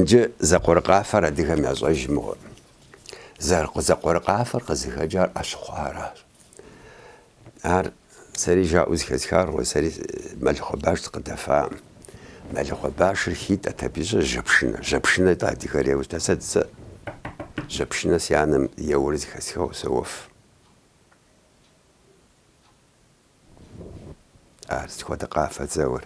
Джы зэкъуэрыкъафэр адыгэм ящӏэж мыгъуэ. Зэкъуэрыкъафэр къызыхэкӏар ӏэщыхъуэращ. Ар сэри жаӏэу зыхэсхар, сэри Мэлыхъуэ баш сыкъыдэфаӏым. Мэлыхъуэ башыр хитӏэт, абы ищӏэ жьэпшынэ. Жьэпшынэ тӏэ адыгэр еуэтэ. Сэ дзэ жьэпшынэ си анэм еуэри зыхэсхыгъэу соуэф. Ар сыт хуэдэ къафэ зэуэр?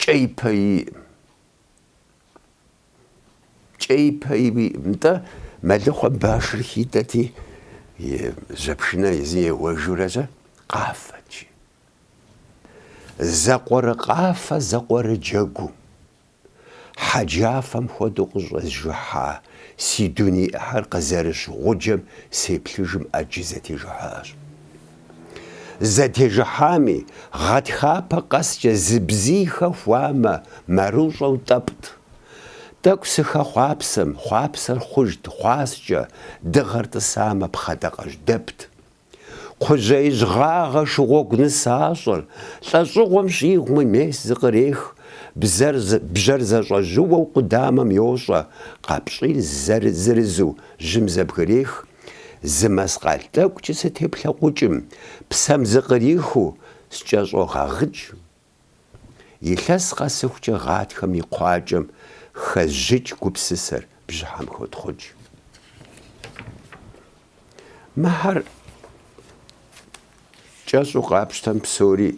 Кӏэи пэи иӏым. Кӏэи пэи иӏым. Нтӏэ, мэлыхъуэ башыр хитӏэти, и жьэпшынэ езым еуэжурэзэ, къафэти. Зэкъуэрыкъафэ зэкъуэрыджэгум, хьэджафэм хуэдэу къыщӏэзжыхьа си дуней ӏыхьэр къызэрыщ гъуджэм сеплъыжым ӏэджи зэтежыхьащ. Зэтежыхьами, гъэтхапэ къэскӏэ зы бзий хэхуамэ, мэрыщӏэу тӏэпӏт. Тӏэкӏу сыхэхъуапсэм, хъуапсэр хъужт хъуаскӏэ, дыгъэр тӏысамэ, пхъэдакъэжь дэпт. Кхъужьеижь гъагъэ шыгъуэгу нысащӏэр, лӏэщӏыгъуэм щӏигъуми мес зыкърех, бзэр, бжьэр зэщӏэжьыуэу къудамэм йощӏэ, къапщӏийр зырызу жьым зэбгрех, Зы мэскъал тӏэкӏукӏэ сытеплъэкъукӏым, псэм зыкърихыу скӏэщӏогъэгъыкӏ. Илъэс къэсыхукӏэ гъатхэм и кхъуакӏэм хэзжыкӏ гупсысэр бжьыхьэм хотхъукӏ. Мыхьэр кӏэщӏу къапщтэм псори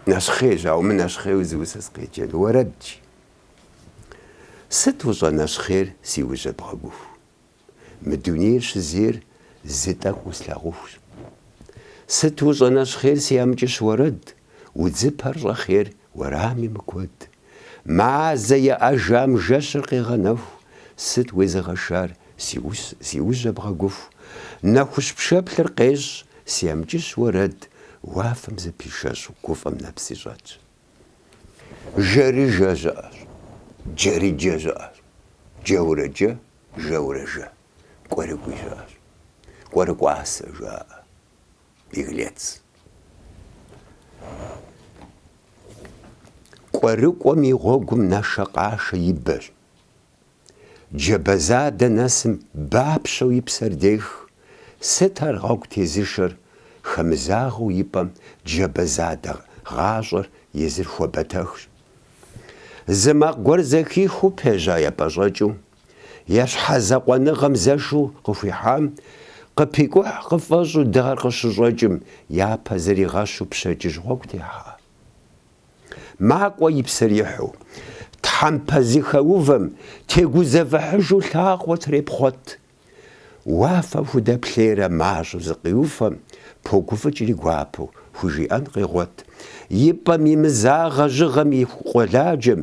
нэщхъейщ, ауэ мы нэщхъейуэ зы усэ сыкъеджэн уэрэдщ. Сыт ущӏэнэщхъейр си ужьэ бгъэгуху. Мы дунейр щызейр зы тӏэкӏу услъагъухущ. Сыт ущӏэнэщхъейр си амкӏыщ уэрэд, удзыпэр щӏэхъейр уэрами мыкуэд. Мазэ еӏэжам жэщыр къегъэнэху, сыт уезыгъэшар си ус си ужьэ бгъэгуху. Нэхущ пшэплъыр къещӏ си амкӏыщ уэрэд, уафэм зыпишэщӏу гуфӏэм нэпси щӏэтщ. Жэрыжэ щыӏэщ, джэрыджэ щыӏэщ, джэурэ джэ, жэурэ жэ, кӏуэрыкӏуи щыӏэщ. Кӏуэрыкӏуасэ жаӏэ, беглец. Кӏуэрыкӏуэм и гъуэгум нэшэкъашэ и бэщ. Джабэ задэ нэсым бапщэу и псэр дех, сыт ар гъуэгу тезышэр, хэмызагъэу и пӏэм джабэ задэ гъащӏэр езыр хуэбэтэхщ. Зы макъ гуэр зэхихыу пежьа епӏэщӏэкӏыу, е щхьэзакъуэныгъэм зэшу къыхуихьам, къыпикӏухь къыфӏэщӏу дыгъэр къыщыщӏэкӏым, япэ зригъэщу пщэдджыжь гъуэгу техьа. Макӏуэ и псэр ихьу, тхьэмпэ зыхэувэм тегузэвыхьыжу лъакъуэ трепхъуэт. Уафэм худэплъейрэ мащӏэу зыкъиуфэм, погуфӏыкӏри гуапэу хужиӏэн къегъуэт, и пӏэм имызагъэ жьыгъэм и къуэладжэм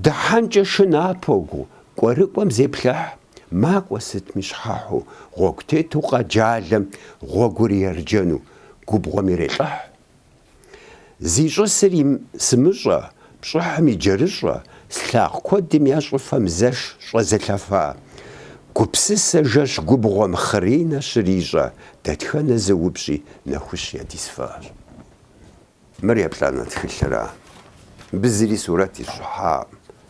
дыхьэнкӏэ шынапэу кӏуэрыкӏуэм зеплъыхь. Макӏуэ сытми щхьэхьу гъуэгу тету къэджалэм гъуэгур ерджэну губгъуэм ирелӏыхь. Зищӏысри сымыщӏэ, пщӏыхьым иджэрыщӏэ, слъагъу куэдым я щӏыфэм зэш щӏэзылъэфа. Гупсысэ жэщ губгъуэм хъыринэ щрищӏэ, дэтхэнэ зы упщӏи нэхущ ядисфащ. Мыр еплӏанэ тхылъра? Мыбы зыри сурэт ищӏыхьакъым.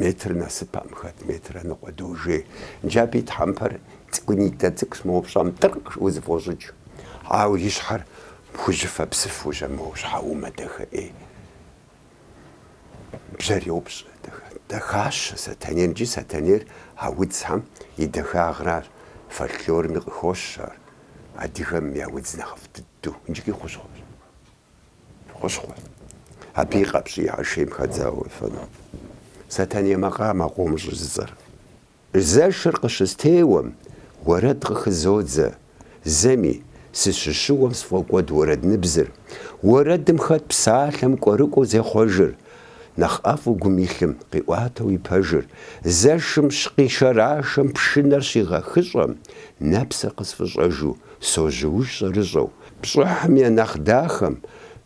Метр нэсыпэм хэт метрэ ныкъуэ дожей нджапӏи тхьэмпэр цӏыкӏунитӏэ цӏыкӏущ, мо упщӏам тӏыркъ узыфӏощӏыкӏ, ауэ и щхьэр пхужьыфэ псыфу жьэмыуэу щхьэумэ дахэӏей. Бжьэр йопщӏ, дахэщ Сэтэнейр икӏи Сэтэнейр а удзхэм и дахагъэращ, фольклорми къыхощ ар, адыгэм я удз нэхъыфӏ дыдэу, иджыкӏи хущхъуэщ. Хущхъуэ. Абы и къэпщӏийхэр шейм хэдзауэ уефэну. Сэтэней макъамэ къомыр щӏызыцӏэр. Зэшыр къыщыстеуэм, уэрэд къыхызодзэ, зэми, сыщыщыуэм сфӏокӏуэд уэрэдныбзыр. Уэрэдым хэт псалъэм кӏуэрыкӏуэу зехъуэжыр. Нэхъ ӏэфӏу гум илъым, къиӏуатэу и пэжыр. Зэшым щыкъишэрашэм пшынэр щигъэхыщӏэм, нэпсыр къысфӏыщӏэжу, сожьууж щӏэрыщӏэу. Пщӏыхьым я нэхъ дахэм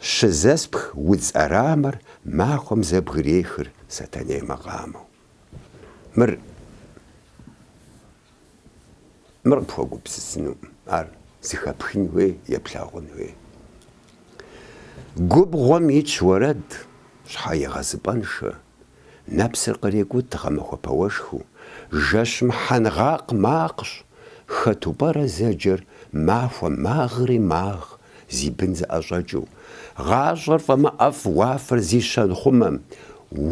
щызэспх удз ӏэрамэр махуэм зэбгрехыр Сэтэней макъамэу. Мыр, мыр къыпхуэгупсысынукъым, ар зыхэпхын хуей, е плъагъун хуей. Губгъуэм итщ уэрэд, щхьэегъэзыпӏэншэ, Нэпсыр кърекӏут гъэмахуэ пэуэшхыу, Жэщым хьэнгъакъ макъщ, Хэту пӏэрэ зэджэр махуэ магъри магъ, Зи бын зыӏэщӏэкӏыу. Гъащӏэр фӏэмыӏэфӏ уафэр зи щэнхъумэм,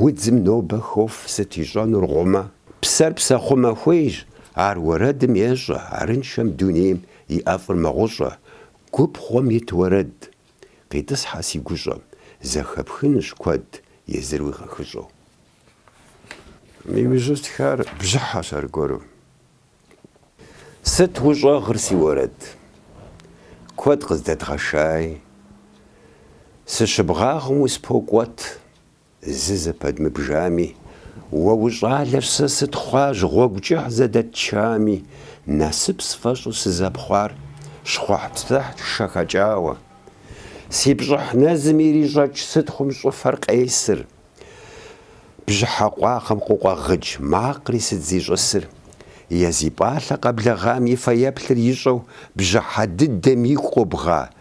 Удзым нобэ хоф сыт ищӏэнур гъумэ. Псэр псэхъумэ хуейщ, ар уэрэдым ещӏэ, Арыншэм дунейм и ӏэфӏыр мэгъущӏэ, Губгъуэм ит уэрэд. Къитӏысхьэ си гущӏэм, зэхэпхынущ куэд, езыр уигъэхыщӏэу. Иужьу стхар бжьыхьэщ аргуэру. Сыт ущӏэгъыр си уэрэд? Куэд къыздэдгъэщӏай. Сыщыбгъагъым успокӏуэт. Зы зэпэдмыбжами, Уэ ущӏалэщ, сэ сытхъуащ Гъуэгу кӏыхь зэдэтчами, Насып сфӏэщӏу сызэпхъуар Щхъухьпсыхьт шэ хэкӏауэ. Си пщӏыхь нэзым ирищӏэкӏ Сытхъум щӏыфэр къесыр, Бжьыхьэ къуагъым къыкъуэгъыкӏ Макъри сыт зищӏысыр? Е зи пӏалъэ къэблэгъам И фэеплъыр ищӏэу Бжьыхьэ дыдэм игу къобгъа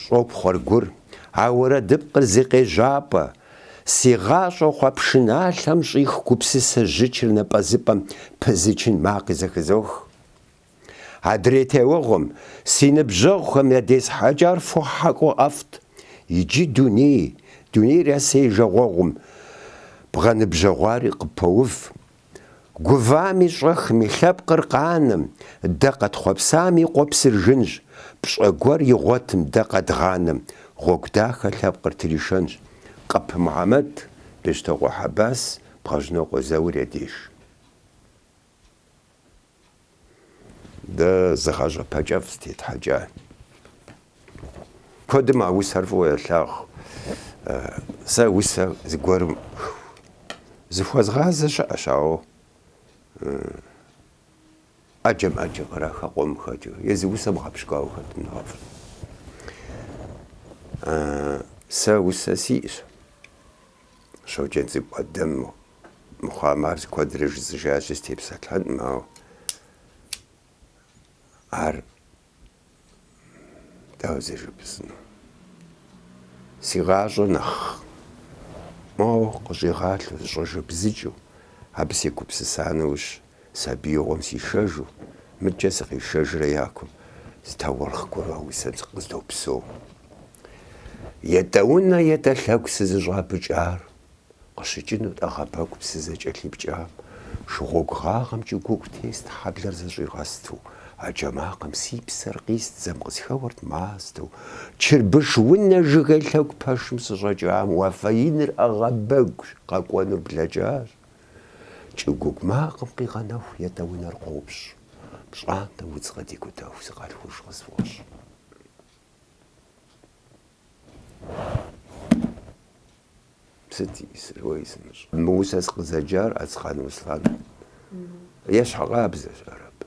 Щӏопхъуэр гур, а уэрэдыпкъыр зи къежьапӏэ. Си гъащӏэ хъуа пшыналъэм щӏих гупсысэ жьычыр напӏэзыпӏэм пызычын макъи зэхызох. Адрей теуэгъуэм, си ныбжьэгъухэм ядесхьэкӏар фо хьэкӏуэ ӏэфӏт. Иджы дуней, дунейр ясей жагъуэгъум бгъэныбжьэгъуари къыппоув. Гувами щӏэхми, лъэпкъыр къанэм, дэ къэтхъуэпсам и къуэпсыр жынщ, пщӏэ гуэр игъуэтым, дэ къэдгъанэм, гъуэгу дахэ лъэпкъыр тришэнщ. Къэпы Мухьэмэд, Бещтокъуэ Хьэбас, Бгъэжьнокъуэ Заур я деж. Дэ зы гъащӏэ пэкӏэфӏ зытетхьэкӏа. Куэдым а усэр фӏыуэ елъагъу. Сэ усэ зыгуэрым зыхуэзгъазэ щыӏэщ, ауэ ӏэджэм ӏэджэ кърахэ къуэм хэкӏыу, е зы усэ бгъэпщкӏуауэ хэтым нэхъыфӏщ. Сэ усэ сиӏэщ. Щоджэнцӏыкӏу Ӏэдэм мыхъуам ар куэдрэ жысӏэжащи, степсэлъэнкъым, ауэ ар дауэ зэжыпӏэсыну? Си гъащӏэр нэхъ моуэ къыщӏигъалъэу, зыщӏэжэбзыкӏыу, абы сегупсыса нэужь, Сабиигъуэм сишэжу, мыдкӏэ сыкъишэжрэ я кум, зы таурыхъ гуэру усэ къыздопсэу. Етӏэ унэ, етӏэ лъэгу сызыщӏапӏыкӏар къыщыкӏынут ӏэгъэбэгу псы зэ кӏэлъыпкӏам, шыгъуэгу гъагъэм кӏыгуугу тест хьэблэр зэщӏигъэсту, а джэ макъым си псэр къист дзэм къысхэуэрт мастэу, чырбыш унэ жыгей лъэгу пэшым сыщӏэкӏам уафэ иныр ӏэгъэбэгу къэкӏуэнур блэкӏащ. Кӏыгуугу макъым къигъэнэху етӏэ унэр къопщ, пщӏантӏэ удз къыдикӏутэху сыкъалъхуж къысфӏощӏ. Сыт уей сымыщӏ? Мы усэ сыкъызэджар Ацкъан Руслан ещхьыркъабзэщ, ар абы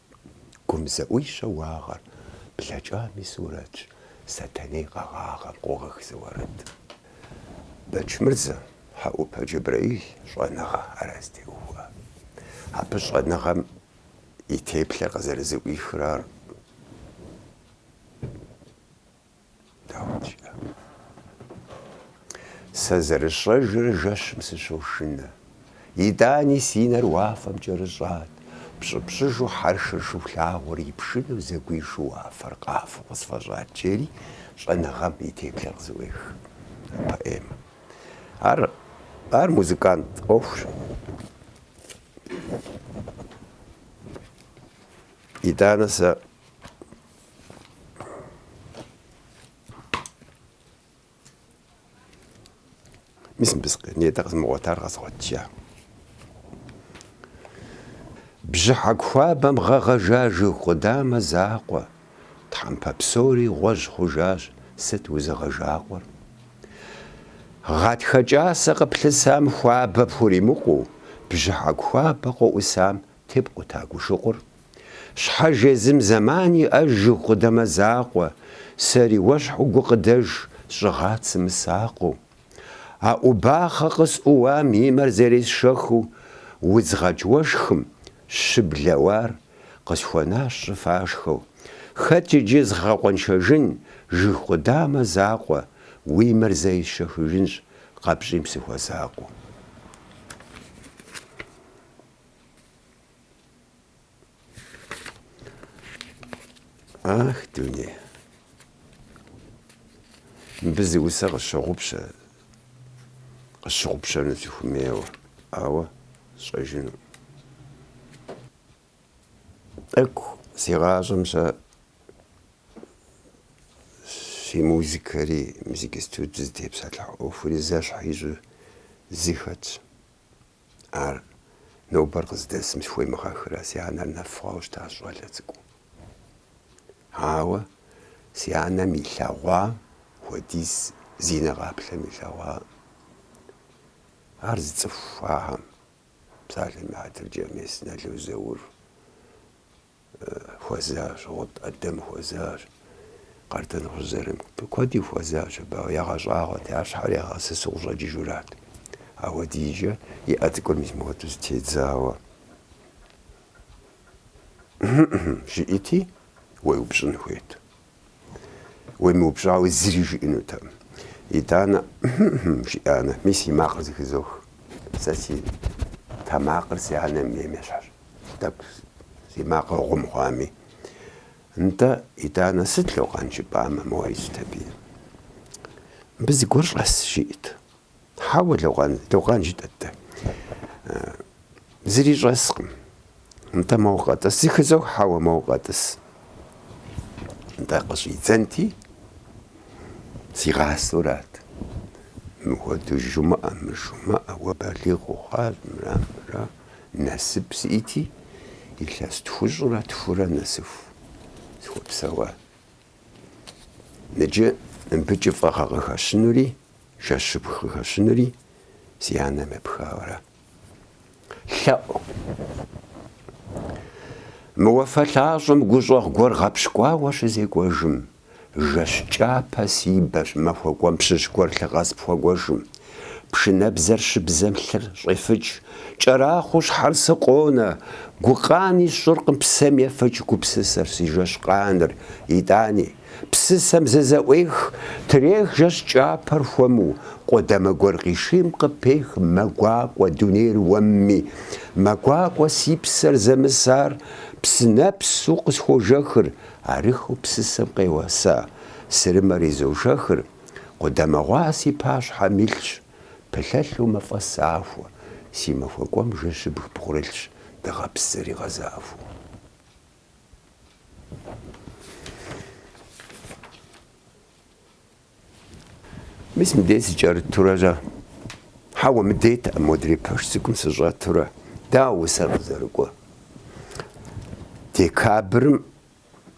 Гум зэӏуищэ уагъэр блэкӏам и сурэтщ, Сэтэней къэгъагъэм къогъэх зы уэрэд. Бэчмырзэ Хьэӏупэ Джэбрэил щӏэныгъэ ара зытеухуа. Абы щӏэныгъэм и теплъэр къызэрызэӏуихыр ар. Дауэт жиӏа? Сэ зэрысщӏэжрэ жэщым сыщошынэ. Итӏани си нэр уафэм кӏэрыщӏат. Пщӏыпщӏыжу хьэршыр Шыхулъагъуэр и пшынэу зэгуишу уафэр къафэу къысфӏэщӏат жери щӏэныгъэм и теплъэр къызэӏуех. Поэмэ. Ар, ар музыкант ӏуэхущ. Итӏанэ сэ Мис мыбы нетӏэ къызмыгъуэтар къэзгъуэтжа. Бжьыхьэку хуабэм гъэгъэжа жыг къудамэ закъуэ, тхьэмпэ псори гъуэжь хъужащ, сыт узыгъэжакъуэр? Гъатхэ кӏасэ къыплъысам хуабэ пхуримыкъуу, бжьыхьэку хуабэ къоӏусам Тепкъута гу щыкъур. Щхьэж езым зэман иӏэж жыг къудамэ закъуэ, сэри уэщхьу гукъыдэж сщӏыгъат сымысакъыу. А ӏубахъэ къысӏууам и мэр зэресшэхыу удзгъэкӏ уэшхым щыблэ уар къысхуэнащ щӏыфашхэу. Хэт иджы згъэкъуэншэжын жыг къудамэ закъуэ, уи мэр зэ есшэхыжынщ къэпщӏим сыхуэсакъыу. Ах, дуней! Мыбы зы усэ къысщыгъупщэ, къысщыгъупщэну сыхуэмейуэ, ауэ сщӏэжыну. Тӏэкӏу си гъащӏэм сэ си музыкэри, музык институтым зытепсэлъыхь ӏуэхури зэщхь ищӏу зы хэтщ. Ар нобэр къыздэсым схуемыгъэхрэ, си анэр нэф хъуауэ щытащ щӏалэ цӏыкӏуу. Ауэ си анэм илъэгъуа хуэдиз зи нэ къаплъэм илъэгъуа ар зы цӏыху хыхьэм, псалъэм и хьэтыркӏэ, мес, Нало Заур хуэзащ, Гъут Ӏэдэм хуэзащ, Къардэнгъущӏ Зырамыку, куэди хуэзащ. Абы ягъэщӏагъуэт, я щхьэр ягъэсысу къыщӏэкӏыжурат. Ауэ ди деж и ӏэ цӏыкӏур мис мыхуэдэу зытедзауэ щыӏэти, уеупщӏын хуейт. Уемыупщӏауэ зыри жиӏэнутэкъым. Итӏанэ, хьм-хьм, жиӏамэ, мис и макъыр зыхызох. Сэ си тэмакъыр си анэм ейм ещхьэщ. Тӏэкӏу си макъыр гъум хъуами. Нтӏэ, итӏанэ, сыт, лӏо, къан, жыпӏамэ, моуэ ищӏт абы? Мыбы зыгуэр щӏэс, жиӏэт. Хьэуэ, лӏо, къан, жытӏэт дэ. Зыри щӏэскъым. Нтӏэ, моуэ къэтӏыс. Зыхызох, хьэуэ, моуэ къэтӏыс. Нтӏэ, къыщӏидзэнти, сигъасэурат. Мыхуэдэу жумыӏэ, мыжумыӏэ, уэ балигъ ухъуащ, мыра, мыра. Насып сиӏити, илъэс тхущӏрэ тхурэ нэсыху сыхуэпсэуа. Ныджы мыбы кӏыфӏыгъэ къыхэщынури Жэщыбг къыхэщынури си анэм епхауэра? Лъэӏу. Мы уафэ лъащӏэм гущӏэгъу гуэр гъэпщкӏуауэ щызекӏуэжым, жэщ кӏапэ си бэщ махуэ кӏуэм пщыщ гуэр лъы къэс пхуэгуэшым, пшынэбзэр щыбзэм лъыр щӏефыкӏ, кӏэрахъуэу щхьэр сыкъонэ, гукъани сщӏыркъым псэм ефыкӏ гупсысэр, си жэщ къаныр, итӏани. Псысэм зызэӏуех, трех жэщ кӏапэр хуэму, къудамэ гуэр къишийм къыпех мэ гуакӏуэ дунейр уэмми. Мэ гуакӏуэ си псэр зэмысар, псынэпсу къысхуожэхыр, арыххэу псысэм къеуэса сырымэр изожэхыр, къудамэ гъуа си пащхьэм илъщ, пылъэлъу мафӏэ сахуэ, си махуэ кӏуэм жэщыбг бгъурылъщ, дыгъэпс зэригъэзахуэу. Мис мыдей сыкӏэрытурэ щэ? Хьэуэ, мыдейтэкъым модрей пэш цӏыкӏум сыщӏэтурэ. Дауэ усэр къызэрыкӏуэр? Декабрым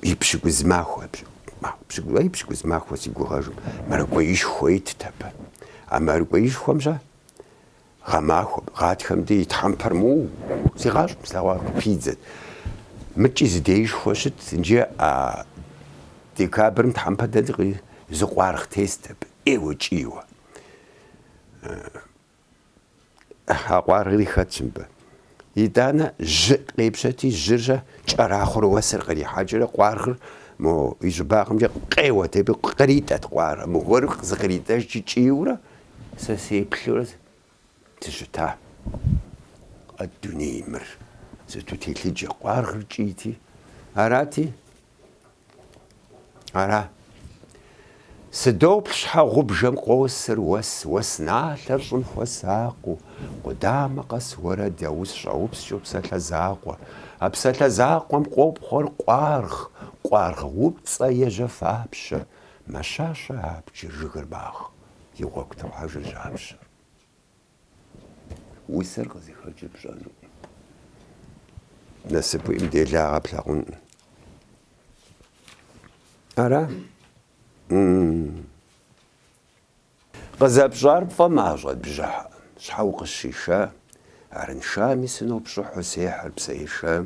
и пщыкӏуз махуэ, и пщыкӏуз махуэ си гугъэжым мэракӏуеишхуэ итт абы. А мэракӏуеишхуэм щэ Гъэмахуэ, гъатхэм дей тхьэмпэр моуэ, си гъащӏэм слъэгъуар къыпидзэт. Мыкӏи зы деишхуэ щыт, иджы а декабрым тхьэмпэ дэлъкъи, зы къуаргъ тест абы, ӏейуэ кӏийуэ. А къуаргъри хэтщ мыбы. Итӏанэ жьы къепщэти, жьыр щыкӏэрахъуэрэ уэсыр кърихьэкӏыурэ къуаргъыр мо и щӏыбагъымкӏэ къеуэт, абы къритӏэт къуаргъыр. Мыгуэру зыкъритӏэжкӏи кӏийуэрэ сэ сеплъурэ сыщыта. Къэ дуней мыр сыту телъыджэ, къуаргъыр кӏийти. Арати, Ара? Сыдоплъ щхьэгъубжэм къосыр уэс, уэс налъэр щӏым хуэсакъыу, къудамэ къэс уэрэд я ус щӏэупскӏэу псалъэ закъуэ. А псалъэ закъуэм къопхъуэр къуаргъ, къуаргъ упцӏэ е жьэфапщэ. Мэщащэ абджыр, жыгыр магъ, и гъуэгу тохьэжыр жьапщэр. Усэр къызыхэкӏыр пщӏэнукъым. Насып уиӏэм делагъэ плъагъункъым. Ара? Къызэпщӏар пфӏэмащӏэт бжьыхьэ. Щхьэ укъысщиша? Арыншами сынопщӏыхьу сехьыр псэ еша.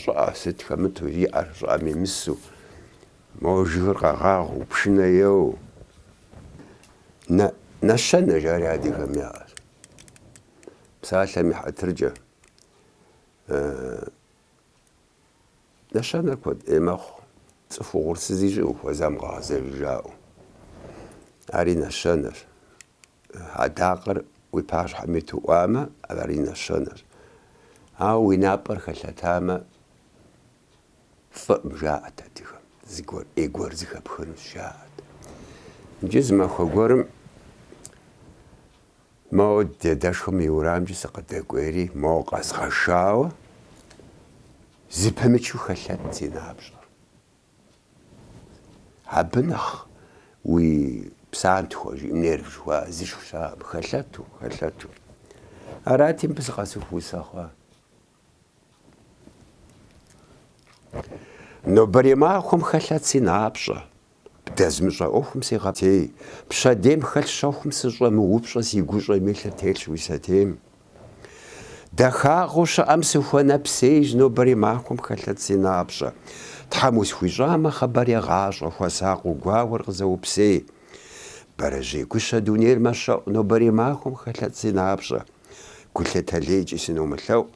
Щӏыӏэ, сыт хэмыту и ӏэр щӏыӏэм имысу, мо жыгыр къэгъагъэу, пшынэ еуэу. Нэщэнэ жари адыгэм яӏэщ. Псалъэм и хьэтыркӏэ. Нэщэнэр куэд ӏей мэхъу, цӏыху угъурсыз ищӏи ухуэзам къэгъэзэж жаӏэу. Ари нэщэнэщ. Адакъэр уи пащхьэм иту ӏуамэ, ари нэщэнэщ. Ауэ уи напӏэр хэлъэтамэ, фӏыӏым, жаӏэт адыгэм, зыгуэр ӏей гуэр зыхэпхынущ, жаӏэт. Иджы зы махуэ гуэрым моуэ дадэшхуэм и уэрамкӏэ сыкъыдэкӏуейри, моуэ къэзгъэшауэ, зыпымычу хэлъэт си напщӏэр. Абы нэхъ уи псантхуэ жи, нерв жыхуаӏэ зышх щыӏэӏым, хэлъэту, хэлъэту. Арати, мыбы сыкъэсыху усэ хъуа. Нобэрей махуэм хэлъэт си напщӏэ, бдэзмыщӏэ ӏуэхум сегъэпӏейтей, пщэдейм хэлъ щэхум сыщӏэмыупщӏэ си гущӏэм илъыр телъщ уи сэтейм. Дахагъэу щыӏэм сыхуэнэпсейщ нобэрей махуэм хэлъэт си напщӏэ. Тхьэм усхуищӏамэ, хъыбар егъащӏэ, хуэсакъыу гуауэр къызэупсей. Бэрэжьей гущэ дунейр мэщэӏу нобэрей махуэм хэлъэт си напщӏэ. Гулъытэ лейкӏи сыномылъэӏу,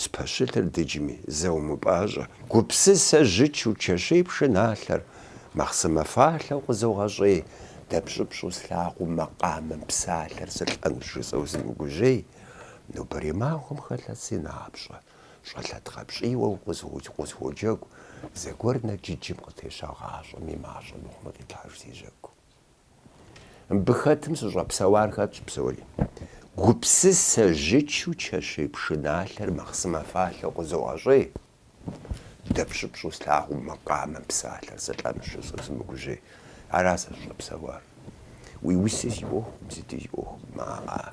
спэщылъыр дыджми, зэумыпӏащӏэ. Гупсысэ жьычу чэщей пшыналъэр Махъсымэ фалъэу къызогъэщӏей, дэпщӏыпщӏу слъагъуу макъамэм псалъэр сылӏэнущ жысӏэу сымыгужьей, нобэрей махуэм хэлъэт си напщӏэ, щӏэлъэ дгъэпщӏийуэ укъысхуоджэгу, зэгуэр нэджыджым къытеща гъащӏэм и мащӏэ мыхъумэ къилъхьэж си жьэгу. Мыбы хэтым сыщӏэпсэуар хэтщ псори. Гупсысэ жьычу чэщей пшыналъэр махъсымэ фалъэу къызогъэщӏей. Дэпщӏыпщӏу слъагъуу макъамэм псалъэр сылӏэнущ жысӏэу сымыгужьей. Ара сэ сыщӏэпсэуар. Уи уси си ӏуэхукъым, сыти си ӏуэхукъым, ааӏа.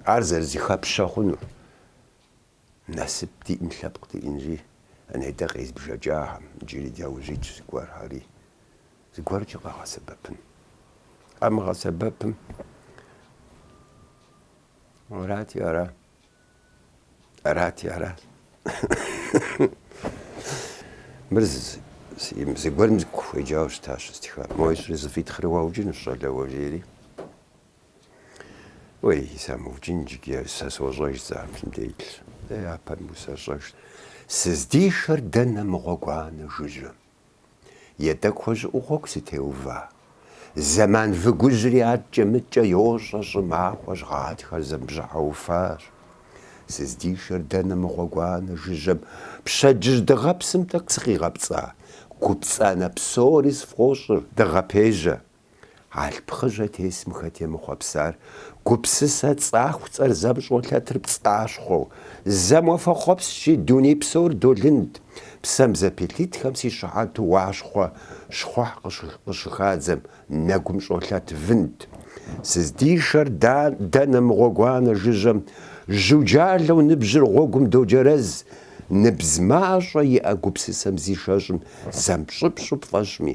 Ар зэрызыхэпщӏэ хъунур. Насып диӏэм лъэпкъ диӏэнри, а нетӏэ къезбжэкӏахэм, иджыри дяужь итщ зыгуэрхэри, зыгуэркӏэ къагъэсэбэпын. Къамыгъэсэбэпым арати ара, арати ара. Мыр зыгуэрым сыкъыхуеджауэ щытащ щыстхам. Мо ищӏри зэфӏитхъри уаукӏынущ, щӏалэ, уэ, жери. Уей, самыукӏын иджыги, сэ сощӏэж сэ абы сымыделъ. Дэ япэм усэщӏэжт. Сыздишэр дэнэ мы гъуэгуанэ жыжьэм? Етӏэ кхъуэщӏыӏу гъуэгу сытеува. Зэман выгужьри адкӏэ мыдкӏэ йощӏэ щӏымахуэщ гъатхэр, зэм бжьыхьэ уфащ. Сыздишэр дэнэ мы гъуэгуанэ жыжьэм? Пщэдджыжь дыгъэпсым тӏэкӏу сыкъигъэпцӏа? Гупцӏанэ псори сфӏощӏыр дыгъэпежьэ. Алъп хъыжьэ тесым хэт емыхъуэпсар гупсысэ цӏахуцӏэр зэм щӏолъэтыр пцӏащхъуэу, зэм уафэхъуэпскӏщи, дуней псор долынд. Псэм зэпилъытхэм си щыхьэту уащхъуэ щхъухь къыщыхадзэм нэгум щӏолъэт вынд. Сыздишэр дэнэ мы гъуэгуанэ жыжьэм, жьуджалэу ныбжьыр гъуэгум доджэрэз, ныбз мащӏэ иӏэ гупсысэм зишэщӏым зэм пщӏыпщӏу пфӏэщӏми,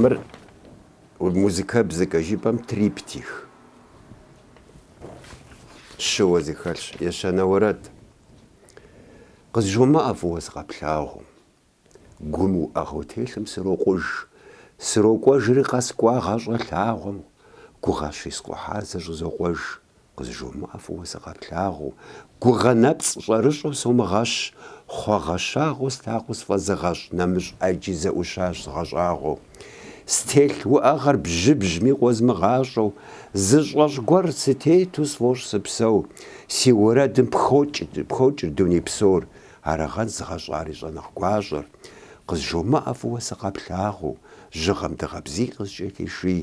Мыр музыкэбзэкӏэ жыпӏэм триптих щыуэ зыхэлъщ. Ещанэ уэрэд къызжумыӏэ фӏыуэ сыкъэплъагъуу. Гум уӏэгъэу телъым срокъуж, срокӏуэжри къэскӏуа гъащӏэ лъагъуэм, гугъэ щискъухьар зэщӏызокъуэж. Къызжумыӏэ фӏыуэ сыкъэплъагъуу, гугъэ нэпцӏ щӏэрыщӏэу сумыгъэщӏ, хъуагъэщагъэу стакъыу сфӏэзыгъэщӏ, нэмыщӏ ӏэджи зэӏущащ згъэщӏагъуэу. Стелъ уӏэгъэр бжьыбжьми къозмыгъащӏэу, зы щӏэщӏ гуэр сытету сфӏощӏ сыпсэу, си уэрэдым пхокӏыр дуней псор, арагъэн згъэщӏари щӏэнэхъ гуащӏэр. Къызжумыӏэ фӏыуэ сыкъэплъагъуу, жьыгъэм дыгъэ бзий къыскӏэлъиший.